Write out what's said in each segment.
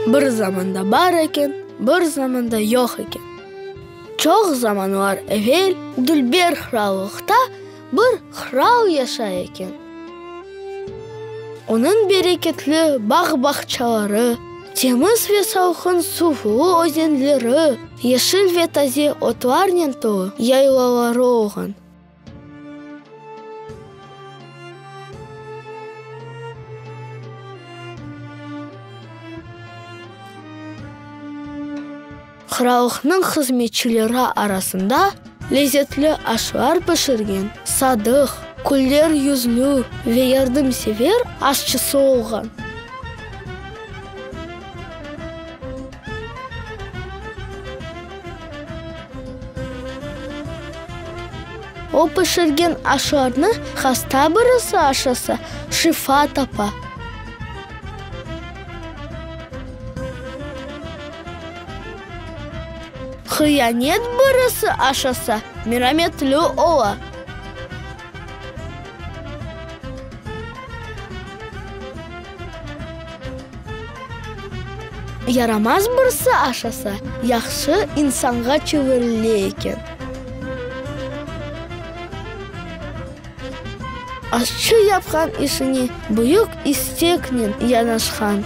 Bir zamanda bar eken, bir zamanda yoq eken. Çoq zamanlar evel, Dülber Qırallıqta Bir qral yaşay eken. Onıñ bereketli bağ-bağçaları, temiz ve salqın suvlı özenleri, yeşil ve taze otlarnen tolu yaylaları olğan. Qırallıqnıñ hızmetçileri arasında lezetli aşlar pişirgen, sadıq, küller yüzlü ve yardımsever aşçısı olğan. O pişirgen aşlarnı hasta birisi aşasa, şifa tapa. Hıyanet birisi aşasa, merametli ola. Yaramaz birisi aşasa, yahşı insanğa çevirile eken. Aşçı yapqan işine büyük isteknen yanaşqan,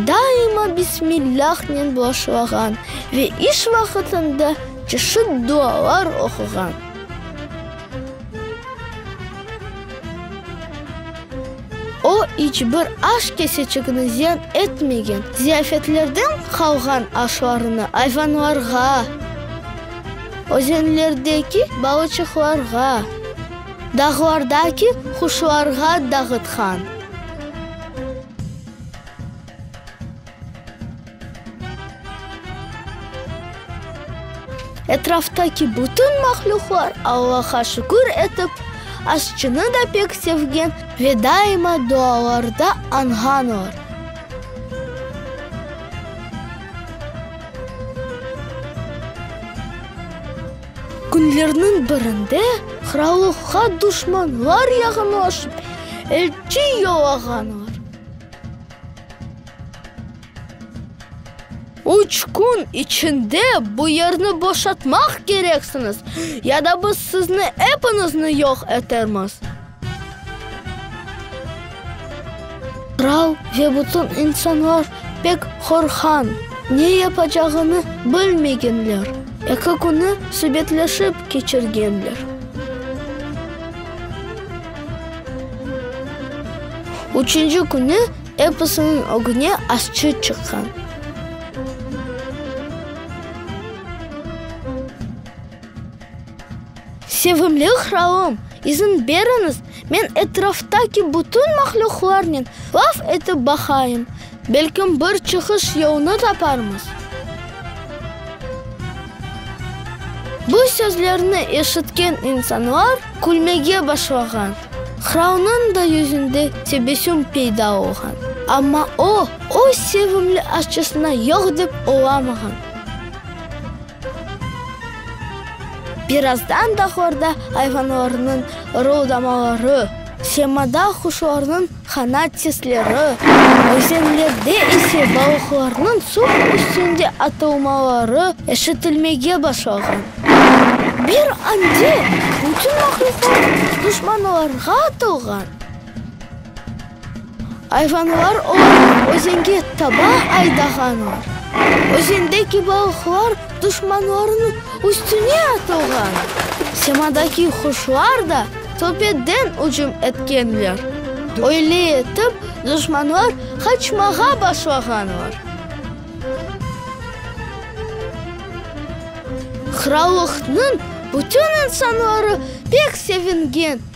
daima bismillâhnen başlağan ve iş vaqtında çeşit dualar oquğan. O, iç bir aş keseçigini ziyan etmegen, ziyafetlerden qalğan aşlarını ayvanlarğa, Özenlerdeki balıçıqlarğa. Dağlardaki quşlarğa dağıtqan. Etraftaki bütün mahlüqlar Allaha şükür etip, aşçını da pek sevgen ve daima dualarda añğan olar. Künlerniñ birinde qırallıqqa duşmanlar yaqınlaşıp, elçi yollağanlar. Üç kün içinde bu yerni boşatmaq kereksiñiz, ya da biz sizni epinizni yoq etermiz. Qral ve bütün insanlar pek qorqan, ne yapacağını bilmegenler, eki künü subetleşip keçirgenler. Üçünci künü episiniñ ögüne aşçı çıqqan. Sevimli qralım, izin beriñiz, men etraftaki bütün mahlüqlarnen laf etip baqayım, belkim bir çıqış yolunı taparmız. Bu sözlerni eşitken insanlar külmege başlağan. Qralnıñ da yüzünde tebessüm peyda olğan. Amma o, öz sevimli aşçısına yoq dep olamağan. Birazdan bahorda ayvanlarnıñ ırıldamaları, semada quşlarnıñ qanat sesleri, özenlerde ise balıqlarnıñ suv üstünde atılmaları eşitilmege başlağan. Bir anda bütün mahluqat duşmanlarğa atılğan. Ayvanlar olaraq özenge taba aydağanlar. Özendeki balıqlar duşmanlarınıñ üstüne atılğan. Semadaki quşlar da töpeden ücüm etkenler. Öyle etip, duşmanlar qaçmağa başlağanlar. Qırallıqnıñ bütün insanları pek sevingen.